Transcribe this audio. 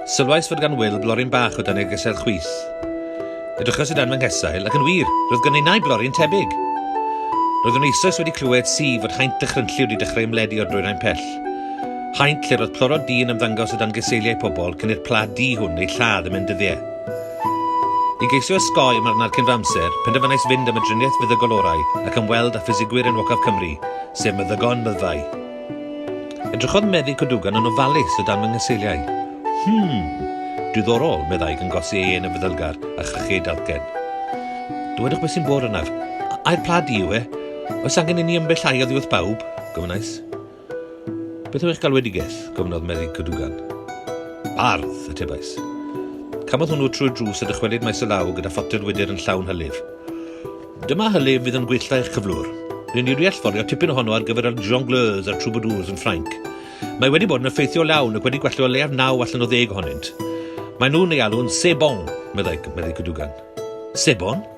Sylwais fod gan Will blorin bach o dan ei gesail chwith. Edrychas i dan fy nghesail, ac yn wir, roedd gan innau blorin tebyg. Roeddwn eisoes wedi clywed si fod haint dychrynllu wedi dechrau ymledu o'r dwyrain pell. Haint lle roedd plorod di yn ymddangos o dan geseiliau pobl cyn i'r pla di hwn ei lladd yn mynd dyddiau. I geisio osgoi marwnad cyn fy amser, penderfynais fynd am y driniaeth feddygol orau ac ymweld â ffisegwyr enwocaf Cymru, sef meddygon myddfai. Edrychodd meddyg Kodugan yn ofalus o dan fy nghyseiliau. Hmm! Diddorol, meddai gan gosi ei ên yn feddylgar a chrychu ei dalcen. Dywedwch beth sy'n bod arnaf. Ai'r pla di yw e? Oes angen inni ymbellaiodd i wrth bawb? gofynnais. Beth yw eich galwedigaeth? gofynnodd Meddyg Cadogan. Bardd! atebais. Cafodd hwnnw trwy'r drws a dychwelyd maes y law gyda photel wydr yn llawn hylif. Dyma hylif fydd yn gwella eich cyflwr. Rydyn ni wedi allforio tipyn ohono ar gyfer yr jongleurs a'r troubadours yn Ffrainc. Mae wedi bod yn effeithiol iawn ac wedi gwella o leiaf naw allan o ddeg ohonynt. Mae nhw'n ei alw'n sebon, meddai Meddyg Cadogan. Sebon?